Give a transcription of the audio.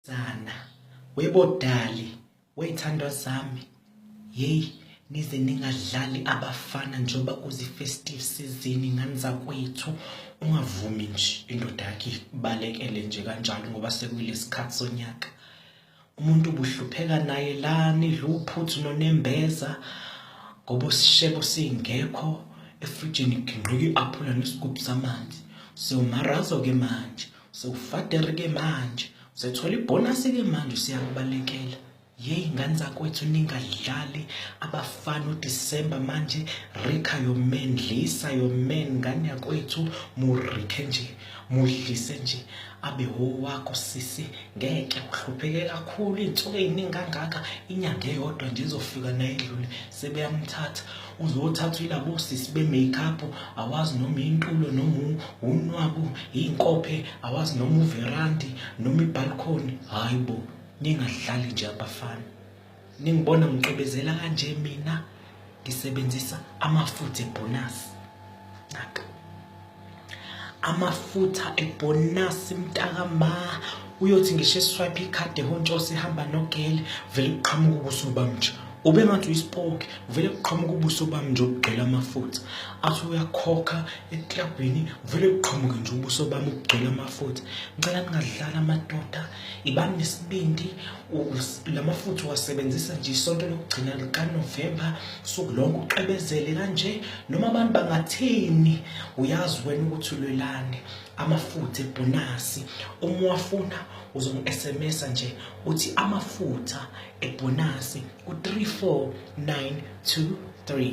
Zana webodali wey'thandwa zami yeyi nize ningadlali abafana njengoba kuzi-festive season ngani zakwethu ungavumi nje indoda yakhe ibalekele nje kanjalo ngoba sekuyile sikhathi sonyaka umuntu ubuhlupheka naye la nidla uphuthu nonembeza ngoba usishebo singekho efrijini kugingqika i-aphula nesigubhu samanzi so marazo-ke manje sewufadere ke manje usethola ibhonasi ke manje usiyakubalekela yeyi ngane zakwethu ningadlali abafana udisemba manje rikha yomen dlisa yomen ngane yakwethu murikhe nje mudlise nje abe owakho sisi ngeke uhlupheke kakhulu iy'nsuku ey'ningi kangaka inyanga eyodwa nje izofika naye edlule sebeyamthatha uzothathwa ilabo sisi be-makeup awazi noma intulo noma unwabu iy'nkophe awazi noma uverandi noma ibhalkhoni hhayi bo ningadlali nje abafana ningibona ngicebezela kanje mina ngisebenzisa amafutha ebhonasi naka amafutha ebhonasi mntaka ma uyothi ngisho eswipe ikhadi ehontshose ihamba nogele vele kuqhamuka ubuso bamnje ube ngathi uyisipoki vele kuqhamuka ubuso bami nje obugcwele amafutha athi uyakhokha eklabhini vele kuqhamuke nje ubuso bami ubugcwele amafutha ngicela ningadlala amadoda ibani nesibindi la mafutha uwasebenzisa nje isonto lokugcina likanovemba suku lonke uqebezele kanje noma abantu bangathini uyazi wena ukuthi ulwelane amafutha ebhonasi uma uwafuna uzongi-sms nje uthi amafutha ebhonasi ku-34923